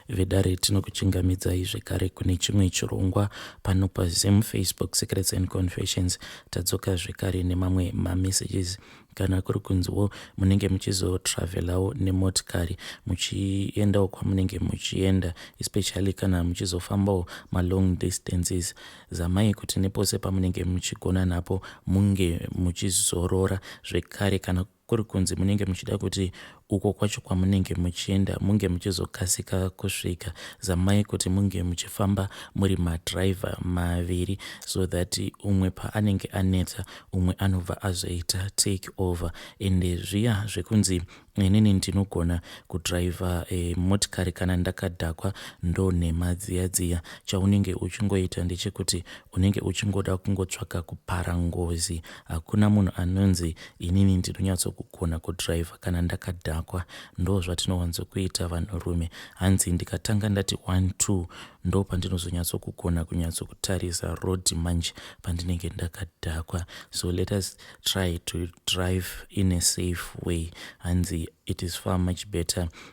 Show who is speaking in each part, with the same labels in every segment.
Speaker 1: Vedare tinokuchingamidzai zvekare kune chimwe chirongwa pano paZim Facebook Secrets and Confessions. Tadzoka zvekare nemamwe mamessages kana kuri kunziwo munenge muchizotravelawo nemotikari muchiendawo kwamunenge muchienda especially kana muchizofambawo malong distances zamai kuti nepose pamunenge muchigona napo munge muchizorora zvekare kana kuri kunzi munenge muchida kuti uko kwacho kwamunenge muchienda munge muchizokasika kusvika zamai kuti munge muchifamba muri madriver maviri so that umwe paanenge anetsa umwe anobva azoita take over ende zviya zvekunzi inini ndinogona kudriver e, motikari kana ndakadhakwa ndo nhema dziya dziya chaunenge uchingoita ndechekuti unenge uchingoda kungotsvaka kupara ngozi Hakuna munhu anonzi inini ndinonyatsokugona kudriver kana ndakadhakwa ndozvatinowanzokuita vanhurume hanzi ndikatanga ndati one two ndopandinozonyatsokugona kunyatsokutarisa road manje pandinenge ndakadhakwa so let us try to drive in a safe way hanzi it is far much better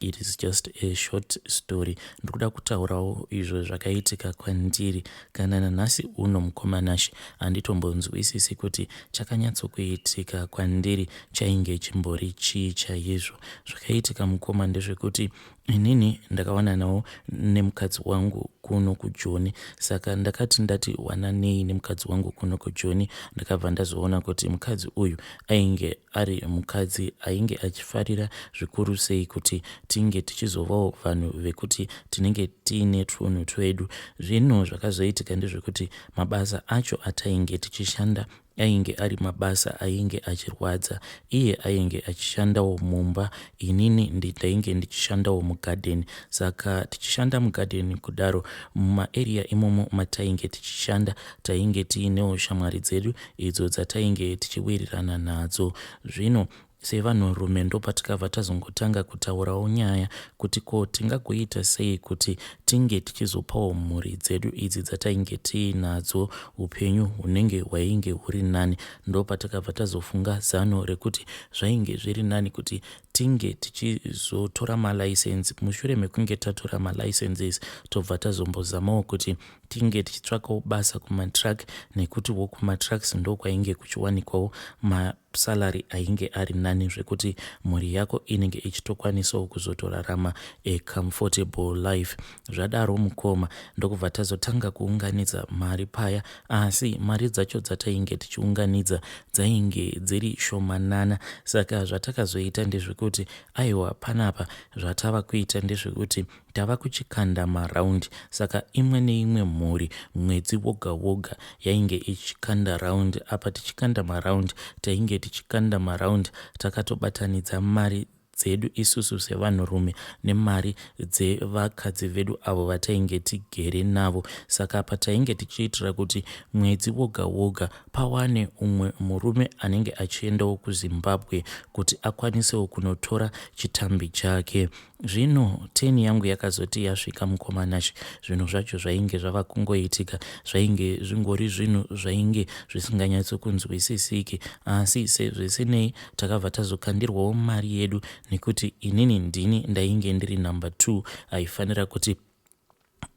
Speaker 1: It is just a short story. Ndikuda kutaurawo izvo zvakaitika kwandiri kana nanhasi uno mukoma Nashe handitombonzwisisi kuti chakanyatsokuitika kwandiri chainge chimbori chii chaizvo. Zvakaitika mukoma ndezvekuti inini ndakawananawo nemukadzi wangu kuno kujoni saka ndakati ndati wananei nemukadzi wangu kuno kujoni ndakabva ndazoona kuti mukadzi uyu ainge ari mukadzi ainge achifarira zvikuru sei kuti tinge tichizovawo vanhu vekuti tinenge tiine twunhu twedu zvinhu zvakazoitika ndezvekuti mabasa acho atainge tichishanda ainge ari mabasa ainge achirwadza iye ainge achishandawo mumba inini ndainge ndichishandawo mugadheni saka tichishanda mugadheni kudaro mumaeriya imomo matainge tichishanda Tainge tiinewo shamwari dzedu idzo dzatainge tichiwirirana nadzo. Zvino sevanhurume ndopatikabva tazongotanga kutaurawo nyaya kuti ko tingagoita sei kuti tinge tichizopawo mhuri dzedu idzi dzatainge tiinadzo upenyu hunenge hwainge huri nani. Ndopatakabva tazofunga zano rekuti zvainge zviri nani kuti tinge tichizotora malicense. Mushure mekunge tatora malicenses tobva tazombozamawo kuti tinge tichitsvakawo basa kumatruck nekuti wo kumatrucks ndokwainge kuchiwanikwawo masalary ainge ari nani zvekuti mhuri yako inenge ichitokwanisawo kuzotorarama a comfortable life zvadaro mukoma ndokubva tazotanga kuunganidza mari paya asi mari dzacho dzatainge tichiunganidza dzainge dziri shomanana saka zvatakazoita ndezvekuti aiwa panapa zvatava kuita ndezvekuti Tava kuchikanda maround saka imwe neimwe mhuri mwedzi woga woga yainge ichikanda round apa tichikanda maround tainge tichikanda maround takatobatanidza mari dzedu isusu sevanhurume nemari dzevakadzi vedu avo vatainge tigere navo saka apa tainge tichiitira kuti mwedzi woga woga pawane umwe murume anenge achiendawo kuzimbabwe kuti akwanisewo kunotora chitambi chake Zvino turn yangu yakazoti yasvika mukoma Nashy zvinhu zvacho zvainge zvava kungoitika zvainge zvingori zvinhu zvainge zvisinganyatso kunzwisisiki asi sezvisinei takabva tazokandirwawo mari yedu nekuti inini ndini ndainge ndiri number two aifanira kuti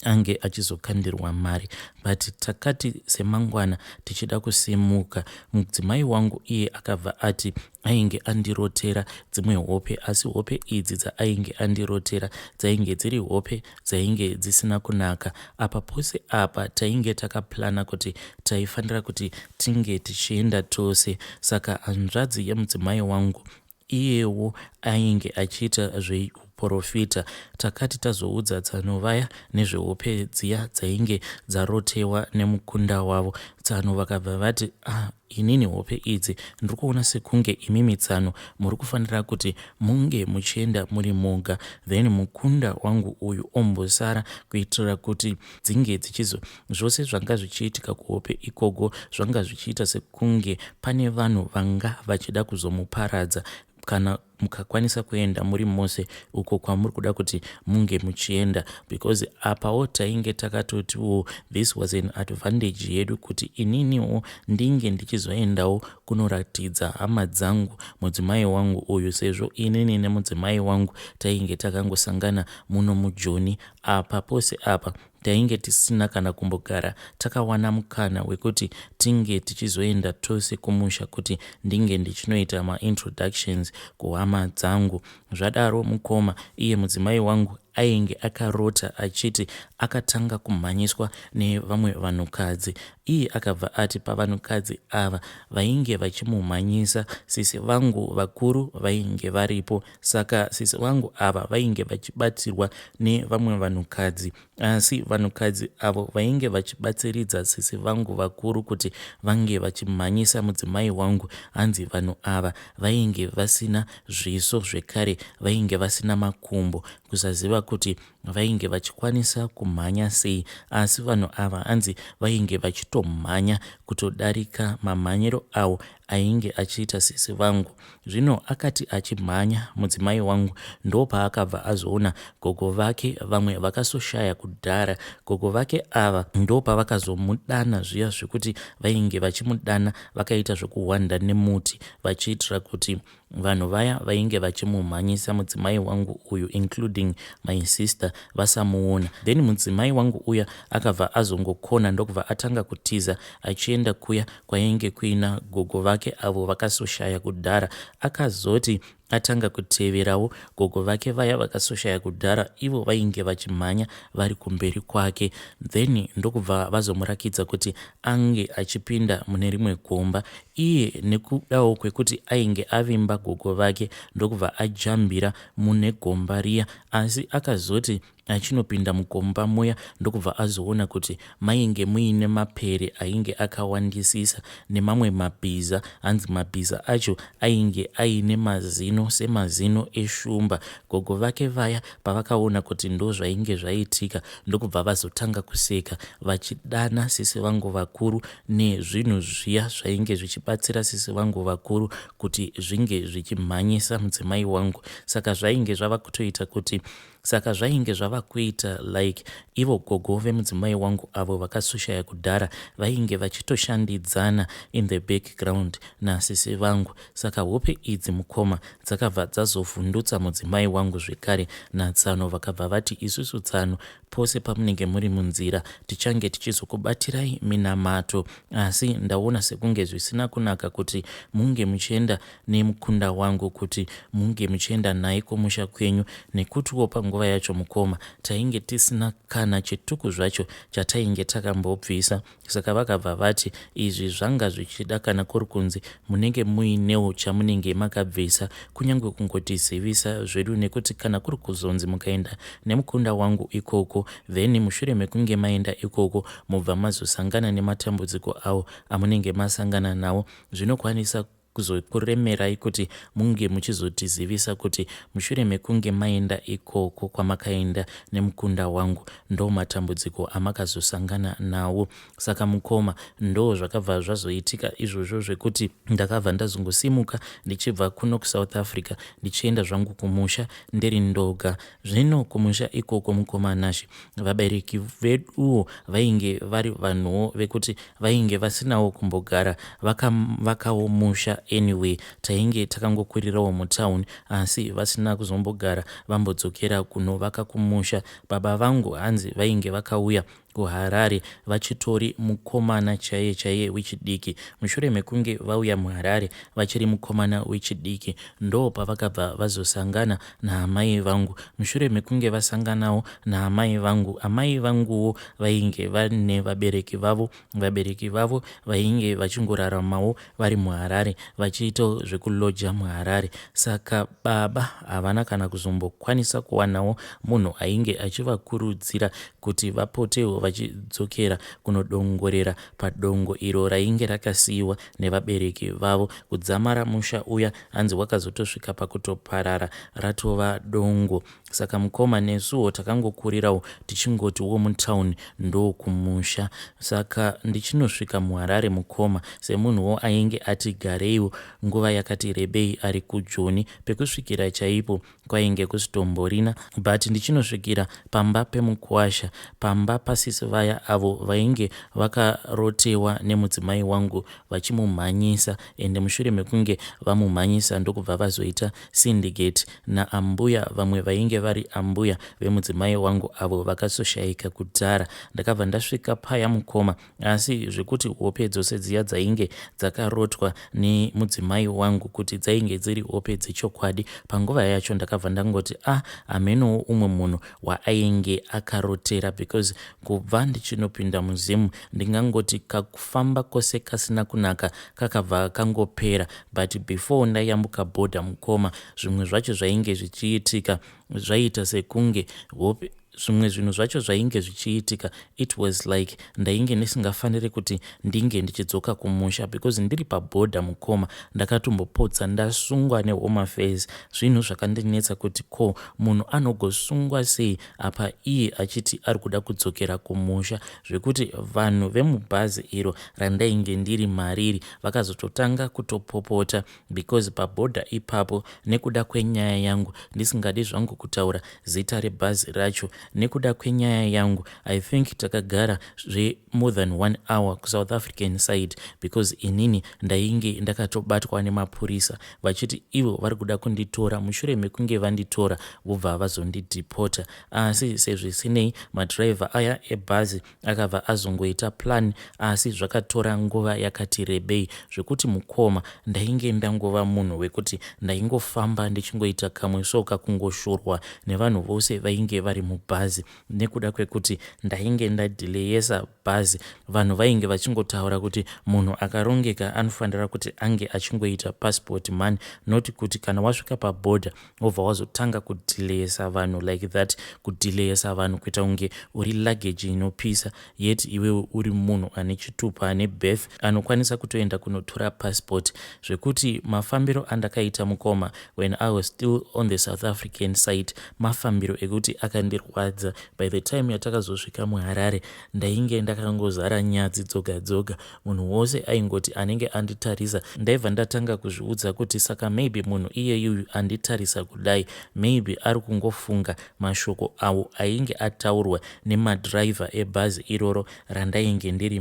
Speaker 1: ange achizokandirwa mari but takati semangwana tichida kusimuka mudzimai wangu iye akabva ati ainge andirotera dzimwe hope asi hope idzi dzaainge andirotera dzainge dziri hope dzainge dzisina kunaka apa pose apa tainge takaplana kuti taifanira kuti tinge tichienda tose saka hanzvadzi yemudzimai wangu Iyewo ainge achiita zveuporofita. Takati tazoudza tsano vaya nezvehope dziya dzainge dzarotewa nemukunda wavo, tsano vakabva vati ah inini hope idzi ndiri kuona sekunge imimi tsano muri kufanira kuti munge muchienda muri moga then mukunda wangu uyu ombosara kuitira kuti dzinge dzichizo zvose zvanga zvichiitika kuhope ikogo zvanga zvichiita se kunge pane vanhu vanga vachida kuzomuparadza kana mukakwanisa kuenda muri mose uko kwamuri kuda kuti munge muchienda because apawo tainge takatotiwo this was an advantage yedu kuti ininiwo ndinge ndichizoendawo kunoratidza hama dzangu mudzimai wangu uyu sezvo inini nemudzimai wangu tainge takangosangana muno mujoni apa pose apa Tainge tisina kana kumbogara takawana mukana wekuti tinge tichizoenda tose kumusha kuti ndinge ndichinoita maintroductions kuhama dzangu. Zvadaro mukoma, iye mudzimai wangu, ainge akarota achiti akatanga kumhanyiswa nevamwe vanhukadzi. Iye akabva ati pavanhukadzi ava vainge vachimumhanyisa sisi vangu vakuru vainge varipo Saka sisi vangu ava vainge vachibatsirwa nevamwe vanhukadzi asi vanhukadzi avo vainge vachibatsiridza sisi vangu vakuru kuti vange vachimhanyisa mudzimai wangu hanzi vanhu ava vainge vasina zviso zvekare vainge vasina makumbo kusaziva kuti vainge vachikwanisa kumhanya sei asi vanhu ava hanzi vainge vachitomhanya kutodarika mamhanyiro awo ainge achiita sisi vangu zvino akati achimhanya mudzimai wangu ndopaakabva azoona gogo vake vamwe vakasoshaya kudhara gogo vake ava ndopavakazomudana zviya zvekuti vainge vachimudana vakaita zvekuhwanda nemuti vachiitira kuti Vanhu vaya vainge vachimumhanyisa mudzimai wangu uyu including my sister vasamuona. Then mudzimai wangu uya akabva azongokona ndokubva atanga kutiza achienda kuya kwainge kuina gogo vake avo vakasoshaya kudhara. Akazoti atanga kuteverawo gogo vake vaya vakasoshaya kudhara ivo vainge vachimhanya vari kumberi kwake. Then ndokubva vazomurakidza kuti ange achipinda mune rimwe gomba Iye nekudawo kwekuti ainge avimba gogo vake ndokubva ajambira mune gomba riya asi akazoti achinopinda mukomba muya ndokubva azoona kuti mainge muine mapere ainge akawandisisa nemamwe mabhiza hanzi mabhiza acho ainge aine mazino semazino eshumba. Gogo vake vaya pavakaona kuti ndozvainge zvaitika ndokubva vazotanga kuseka vachidana sisi vangu vakuru nezvinhu zviya zvainge zvichibatsira sisi vangu vakuru kuti zvinge zvichimhanyisa mudzimai wangu saka zvainge zvava kutoita kuti saka zvainge zvava kuita like ivo gogo vemudzimai wangu avo vakasushaya kudhara vainge vachitoshandidzana in the background nasisi vangu saka hope idzi mukoma dzakabva dzazovhundutsa mudzimai wangu zvekare natsano vakabva vati isusu tsano Pose pamunenge muri munzira tichange tichizokubatirai minamato asi ndaona sekunge zvisina kunaka kuti munge muchienda nemukunda wangu kuti munge muchienda naye kumusha kwenyu nekutiwo panguva yacho mukoma tainge tisina kana chituku zvacho chatainge takambobvisa Saka vakabva vati, Izvi zvanga zvichida kana kuri kunzi munenge muinewo chamunenge makabvisa, kunyange kungotizivisa zvedu, nekuti kana kuri kuzonzi mukaenda nemukunda wangu ikoko, then mushure mekunge maenda ikoko mobva mazosangana nematambudziko awo amunenge masangana nawo, zvinokwanisa kuzokuremerai kuti munge muchizotizivisa kuti mushure mekunge maenda ikoko kwamakaenda nemukunda wangu ndo matambudziko amakazosangana nawo saka mukoma ndo zvakabva zvazoitika izvozvo zvekuti ndakabva ndazongosimuka ndichibva kuno kusouth africa ndichienda zvangu kumusha ndiri ndoga zvino kumusha ikoko mukoma nashe vabereki veduwo vainge vari vanhuwo vekuti vainge vasinawo kumbogara vakavakawo musha anyway tainge takangokurirawo mutown asi vasina kuzombogara vambodzokera kunovaka kumusha baba vangu hanzi vainge vakauya kuharare vachitori mukomana chaiye chaiye wechidiki mushure mekunge vauya muharare vachiri mukomana wechidiki ndo pavakabva vazosangana naamai vangu. Mushure mekunge vasanganawo naamai vangu, amai vanguwo vainge vane vabereki vavo. Vabereki vavo vainge vachingoraramawo vari muHarare vachiitawo zvekulodger muHarare. Saka baba havana kana kuzombokwanisa kuwanawo munhu ainge achivakurudzira kuti vapotewo vachidzokera kunodongorera padongo iro rainge rakasiiwa nevabereki vavo. Kudzamara musha uya hanzi wakazotosvika pakutoparara ratova dongo saka mukoma nesuwo takangokurirawo tichingoti wo mutown ndokumusha saka ndichinosvika muharare mukoma semunhuwo ainge ati gareiwo nguva yakati rebei ari kujoni pekusvikira chaipo kwainge kusitomborina but ndichinosvikira pamba pemukuwasha pamba pasisi vaya avo vainge vakarotewa nemudzimai wangu vachimumhanyisa ende mushure mekunge vamumhanyisa ndokubva vazoita syndicate naambuya vamwe vainge vari ambuya vemudzimai wangu avo vakasoshaika kudhara ndakabva ndasvika paya mukoma Asi zvekuti hope dzose dziya dzainge dzakarotwa nemudzimai wangu kuti dzainge dziri hope dzechokwadi, panguva yacho ndakabva ndangoti a ah, hamenowo umwe munhu waainge akarotera because kubva ndichinopinda muzimu ndingangoti kakufamba kose kasina kunaka kakabva kangopera but before ndayambuka border mukoma zvimwe zvacho zvainge zvichiitika Zvaiita sekunge hope zvimwe zvinhu zvacho zvainge zvichiitika it was like ndainge ndisingafaniri kuti ndinge ndichidzoka kumusha because ndiri paboda mukoma ndakatombopotsa ndasungwa nehoma fairs zvinhu zvakandinetsa kuti ko munhu anogosungwa sei apa iye achiti ari kuda kudzokera kumusha zvekuti vanhu vemubhazi iro randainge ndiri mariri vakazototanga kutopopota because paborder ipapo nekuda kwenyaya yangu ndisingadi zvangu kutaura zita rebhazi racho nekuda kwenyaya yangu i think takagara zvemore than one hour kusouth african side because inini ndainge ndakatobatwa nemapurisa vachiti ivo vari kuda kunditora mushure mekunge vanditora vobva vazondidhipota asi sezvisinei madhiraivha aya ebhazi Akabva azongoita plan asi zvakatora nguva yakati rebei zvekuti mukoma ndainge ndangova munhu wekuti ndaingofamba ndichingoita kamwe so kakungoshorwa nevanhu vose vainge vari mubhazi nekuda kwekuti ndainge ndadhileyesa bhazi vanhu vainge vachingotaura kuti munhu akarongeka anofanira kuti ange achingoita passport mani not kuti kana wasvika pabhodha wobva wazotanga kudhileyesa vanhu like that kudhileyesa vanhu kuita kunge uri luggage inopisa yet iwewe uri munhu ane chitupa ane birth anokwanisa kutoenda kunotora passport zvekuti mafambiro andakaita mukoma when i was still on the south african site mafambiro ekuti akandirwadza by the time yatakazosvika muharare ndainge ndakangozara nyadzi dzoga dzoga munhu wose aingoti anenge anditarisa ndaiva ndatanga kuzviudza kuti saka maybe munhu iyeyuyu anditarisa kudai maybe ari kungofunga mashoko awo ainge ataurwa nemadriver ebhazi iroro randainge ndiri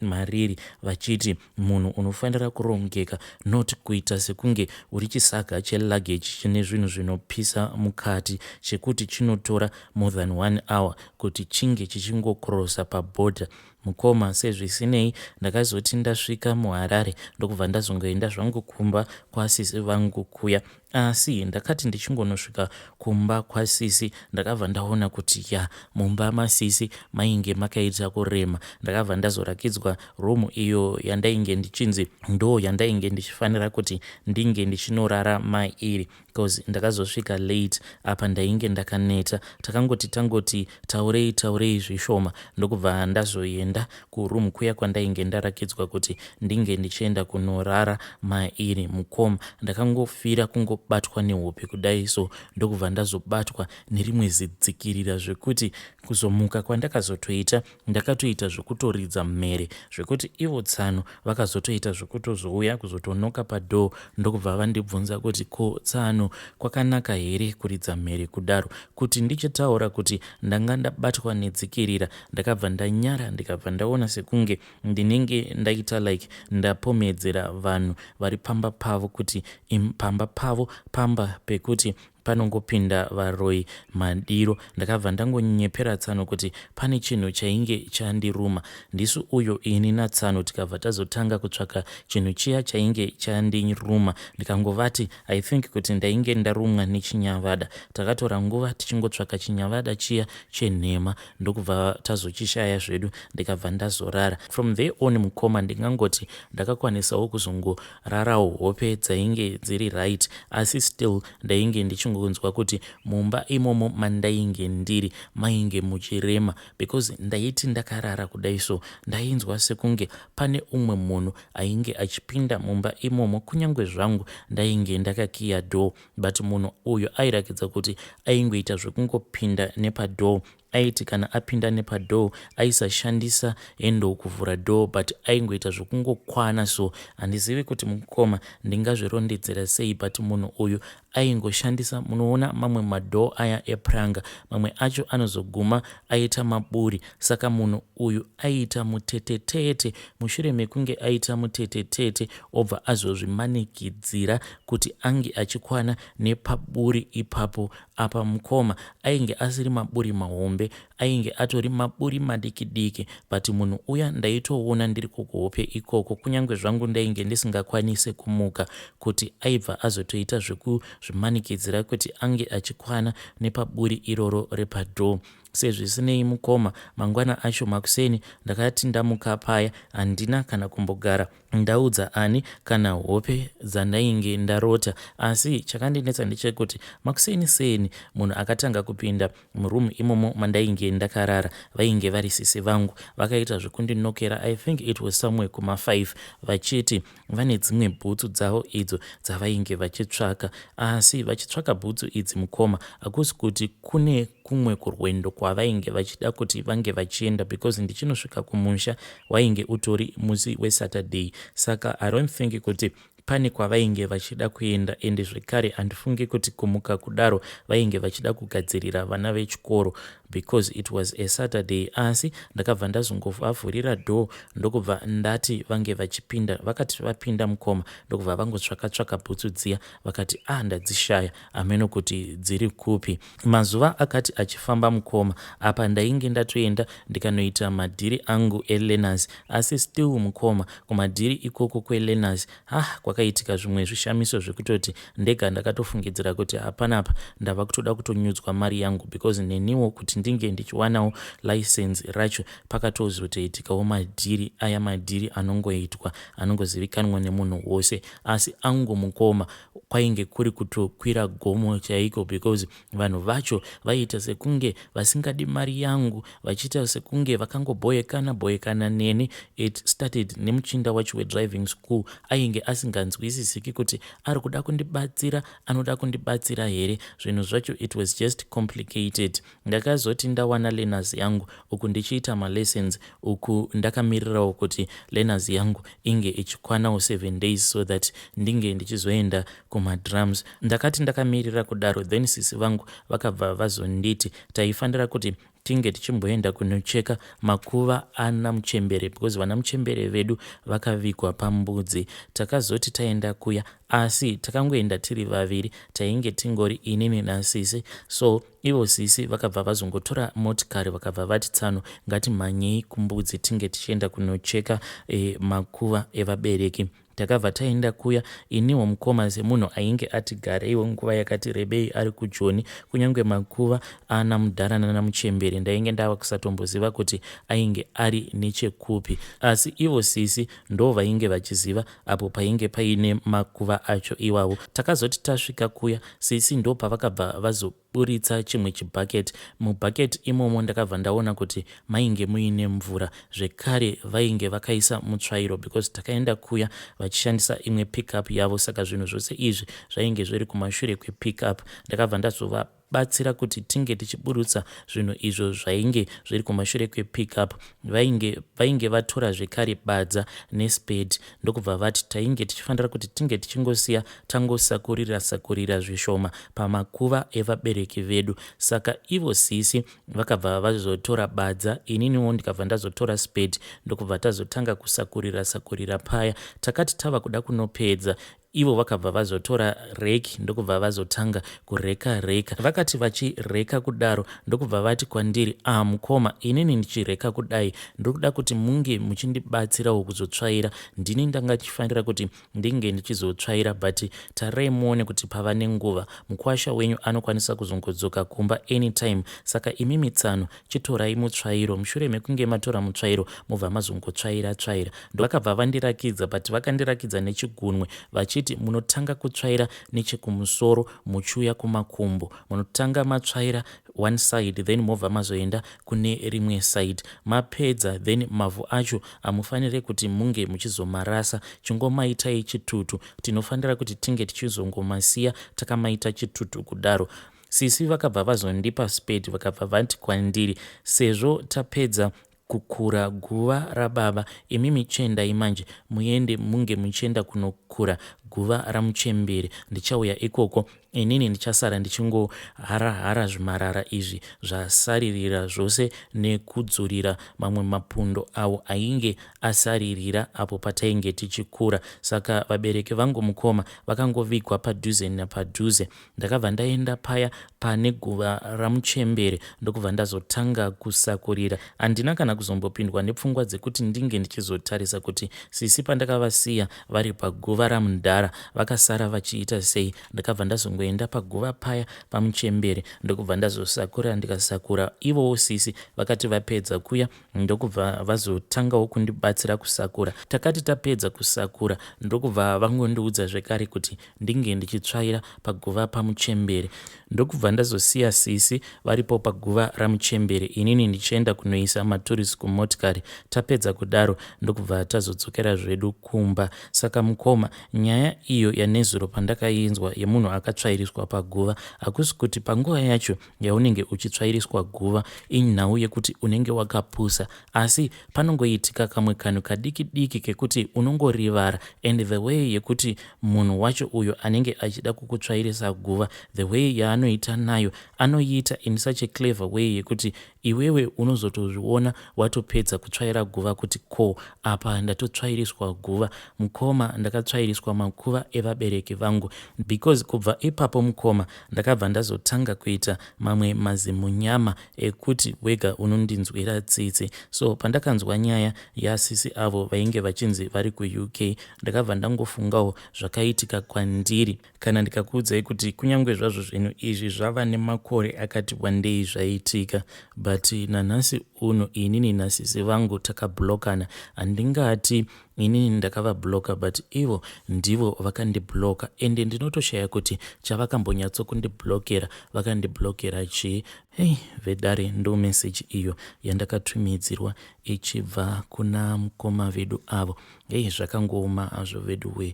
Speaker 1: mariri vachiti munhu unofanira kurongeka not kuita sekunge uri chisaga cheluggage chine zvinhu zvinopisa mukati chekuti chinotora more than one hour kuti chinge chichingokrosa paborder Mukoma sezvisinei ndakazoti ndasvika muHarare ndokubva ndazongoenda zvangu kumba kwasisi vangu kuya asi ndakati ndichingonosvika kumba kwasisi ndakabva ndaona kuti ya mumba masisi mainge makaita kurema ndakabva ndazorakidzwa room iyo yandainge ndichinzi ndo yandainge ndichifanira kuti ndinge ndichinorara mairi coz ndakazosvika late apa ndainge ndakaneta. Takangoti tangoti taurei taurei zvishoma ndokubva ndazoenda kuroom kuya kwandainge ndarakidzwa kuti ndinge ndichienda kunorara mairi mukom ndakangofira kungobatwa nehope kudai so ndokubva ndazobatwa nerimwe zidzikirira zvekuti kuzomuka kwandakazotoita Ndakatoita zvekutoridza mhere zvekuti ivo Tsano vakazotoita zvekutozouya kuzotonoka padoor ndokubva vandibvunza kuti ko Tsano kwakanaka here kuridza mhere kudaro kuti ndichitaura kuti ndanga ndabatwa netsikirira ndakabva ndanyara ndikabva ndaona sekunge ndinenge ndaita like ndapomedzera vanhu vari pamba pavo kuti im pamba pavo pamba pekuti panongopinda varoyi madiro ndakabva ndangonyepera tsano kuti pane chinhu chainge chandiruma ndisu uyo ini natsano tikabva tazotanga kutsvaka chinhu chiya chainge chandiruma ndikangovati i think kuti ndainge ndarumwa nechinyavada takatora nguva tichingotsvaka chinyavada chiya chenhema ndokubva tazochishaya zvedu ndikabva ndazorara from there on mukoma ndingangoti ndakakwanisawo kuzongo Rarawo hope dzainge dziri right asi still ndainge ndichingonzwa kuti mumba imomo mandainge ndiri mainge muchirema because ndaiti ndakarara kudai so ndainzwa sekunge pane umwe munhu ainge achipinda mumba imomo kunyange zvangu ndainge ndakakiya door but munhu uyu airakidza kuti aingoita zvekungopinda nepadoor aiti kana apinda nepadoor aisashandisa handle kuvhura door but aingoita zvokungokwana so handizivi kuti mukoma ndingazvirondedzera sei but munhu uyu aingoshandisa munoona mamwe madoor aya epuranga mamwe acho anozoguma aita maburi saka munhu uyu aiita mutetetete mushure mekunge aita mutetetete obva azozvimanikidzira kuti ange achikwana nepaburi ipapo Apa mukoma ainge asiri maburi mahombe ainge atori maburi madiki diki but munhu uya ndaitoona ndiri kukuhope ikoko kunyange zvangu ndainge ndisingakwanise kumuka kuti aibva azotoita zvekuzvimanikidzira kuti ange achikwana nepaburi iroro repadoor sezvisinei mukoma mangwana acho makuseni ndakati ndamuka paya handina kana kumbogara Ndaudza ani kana hope dzandainge ndarota asi chakandinetsa ndechekuti makuseni seni munhu akatanga kupinda muroom imomo mandainge ndakarara vainge vari sisi vangu vakaita zvekundinokera I think it was somewhere kuma 5 vachiti vane dzimwe bhutsu dzavo idzo dzavainge vachitsvaka asi vachitsvaka bhutsu idzi mukoma hakusi kuti kune kumwe kurwendo kwavainge vachida kuti vange vachienda because ndichinosvika kumusha Wainge utori musi weSaturday saka I don't think kuti pane kwavainge vachida kuenda ende zvekare handifunge kuti kumuka kudaro vainge vachida kugadzirira vana vechikoro because it was a Saturday asi ndakabva ndazongovavhurira door ndokubva ndati vange vachipinda vakati vapinda mukoma ndokubva vangotsvaka tsvaka bhutsu dziya vakati ah ndadzishaya hameno kuti dziri kupi Mazuva akati achifamba mukoma apa ndainge ndatoenda ndikanoita madhiri angu elearners asi still mukoma kumadhiri ikoko kwelearners hah kwakaitika zvimwe zvishamiso zvekutoti ndega ndakatofungidzira kuti hapanapa ndava kutoda kutonyudzwa mari yangu because neniwo kuti ndinge ndichiwanawo license racho pakatozotoitikawo madhiri aya madhiri anongoitwa anongozivikanwa nemunhu wose asi angu mukoma kwainge kuri kutokwira gomo chaiko because vanhu vacho vaiita sekunge vasingadi mari yangu vachiita sekunge vakangobhoyekana bhoyekana neni it started nemuchinda wacho wedriving school ainge asinganzwisisiki kuti ari kuda kundibatsira anoda kundibatsira here zvinhu zvacho it was just complicated Ndakazoti ndawana learners yangu uku ndichiita malessons uku ndakamirirawo kuti learners yangu inge ichikwanawo seven days so that ndinge ndichizoenda kumadrums. Ndakati ndakamirira kudaro then sisi vangu vakabva vazonditi taifanira kuti tinge tichimboenda kunocheka makuva ana muchembere because vana muchembere vedu vakavigwa pambudzi. Takazoti taenda kuya asi takangoenda tiri vaviri tainge tingori inini nasisi so Ivo sisi vakabva vazongotora motikari vakabva vati tsano ngatimhanyei kumbudzi tinge tichienda kunocheka e, makuva evabereki takabva taenda kuya iniwo mukoma semunhu ainge ati gareiwo nguva yakati rebei ari kujoni kunyange makuva ana mudhara nana muchembere ndainge ndava kusatomboziva kuti ainge ari nechekupi asi ivo sisi ndo vainge vachiziva apo painge paine makuva acho iwawo takazoti tasvika kuya sisi ndo pavakabva vazoburitsa chimwe chibucket mubucket imomo ndakabva ndaona kuti mainge muine mvura zvekare vainge vakaisa mutsvairo because takaenda kuya vachishandisa imwe pickup yavo saka zvinhu zvose izvi zvainge zviri kumashure kwepickup ndakabva ndazova batsira kuti tinge tichiburutsa zvinhu izvo zvainge zviri kumashure kwepickup vainge vainge vatora zvekare badza nesped ndokubva vati tainge tichifanira kuti tinge tichingosiya tangosakurira sakurira zvishoma pamakuva evabereki vedu saka ivo sisi vakabva vazotora badza ininiwo ndikabva ndazotora sped ndokubva tazotanga kusakurira sakurira paya takati tava kuda kunopedza Ivo vakabva vazotora rake ndokubva vazotanga kureka reka. Vakati vachireka kudaro ndokubva vati kwandiri, ah mukoma inini ndichireka kudai ndokuda kuti munge muchindibatsirawo kuzotsvaira. Ndini ndanga chifanira kuti ndinge ndichizotsvaira but tarirai muone kuti pava nenguva mukwasha wenyu anokwanisa kuzongodzoka kumba anytime saka imimi tsano Chitorai mutsvairo, mushure mekunge matora mutsvairo mobva mazongotsvaira tsvaira. Ndovakabva vandirakidza but vakandirakidza nechigunwe vachiti munotanga kutsvaira nechekumusoro muchiuya kumakumbo. Munotanga matsvaira one side then mobva mazoenda kune rimwe side. Mapedza then mavhu acho hamufanire kuti munge muchizomarasa, chingomaitai chitutu. Tinofanira kuti tinge tichizongomasiya takamaita chitutu kudaro. Sisi vakabva vazondipa spade vakabva vati kwandiri sezvo tapedza kukura guva rababa imimi chiendai manje muende munge muchienda kunokura guva ramuchembere ndichauya ikoko inini ndichasara ndichingoharahara zvimarara izvi zvasaririra zvose nekudzurira mamwe mapundo awo ainge asaririra apo patainge tichikura saka vabereki vangu mukoma vakangovigwa padhuze napadhuze Ndakabva ndaenda paya pane guva ramuchembere ndokubva ndazotanga kusakurira. Handina kana kuzombopindwa nepfungwa dzekuti ndinge ndichizotarisa kuti sisi pandakavasiya vari paguva ramudhara vakasara vachiita sei. Ndakabva ndazongoenda paguva paya pamuchembere ndokubva ndazosakurira ndikasakura ivowo sisi vakati vapedza kuya ndokubva vazotangawo kundibatsira kusakura. Takati tapedza kusakura ndokubva vangondiudza zvekare kuti ndinge ndichitsvaira paguva pamuchembere. Ndokubva ndazosiya sisi varipo paguva ramuchembere inini ndichienda kunoisa maturisi kumotikari. Tapedza kudaro ndokubva tazodzokera zvedu kumba. Saka mukoma, nyaya iyo yanezuro pandakainzwa yemunhu akatsvairiswa paguva hakusi kuti panguva yacho yaunenge uchitsvairiswa guva inhau yekuti unenge wakapusa asi panongoitika kamwe kanhu kadiki diki kekuti unongorivara and the way yekuti munhu wacho uyo anenge achida kukutsvairisa guva the way yaanoita nayo anoiita in such a clever way yekuti iwewe unozotozviona watopedza kutsvaira guva kuti ko apa ndatotsvairiswa guva mukoma ndakatsvairiswa makuva evabereki vangu because kubva ipapo mukoma Ndakabva ndazotanga kuita mamwe mazimunyama ekuti wega unondinzwira tsitsi. So pandakanzwa nyaya yasisi avo vainge vachinzi vari kuUK ndakabva ndangofungawo zvakaitika kwandiri. Kana ndikakuudzai kuti kunyange zvazvo zvinhu izvi zvava nemakore akati wandei zvaitika but nanhasi uno inini nasisi vangu takablokana handingati Inini ndakava blocker but ivo ndivo vakandi blocker ende ndinotoshaya kuti chavakambonyatso kundi blockera vakandi blockera chii hei vedare ndo message iyo yandakatumidzirwa ichibva kuna mukoma vedu avo hei zvakangooma azvo veduwee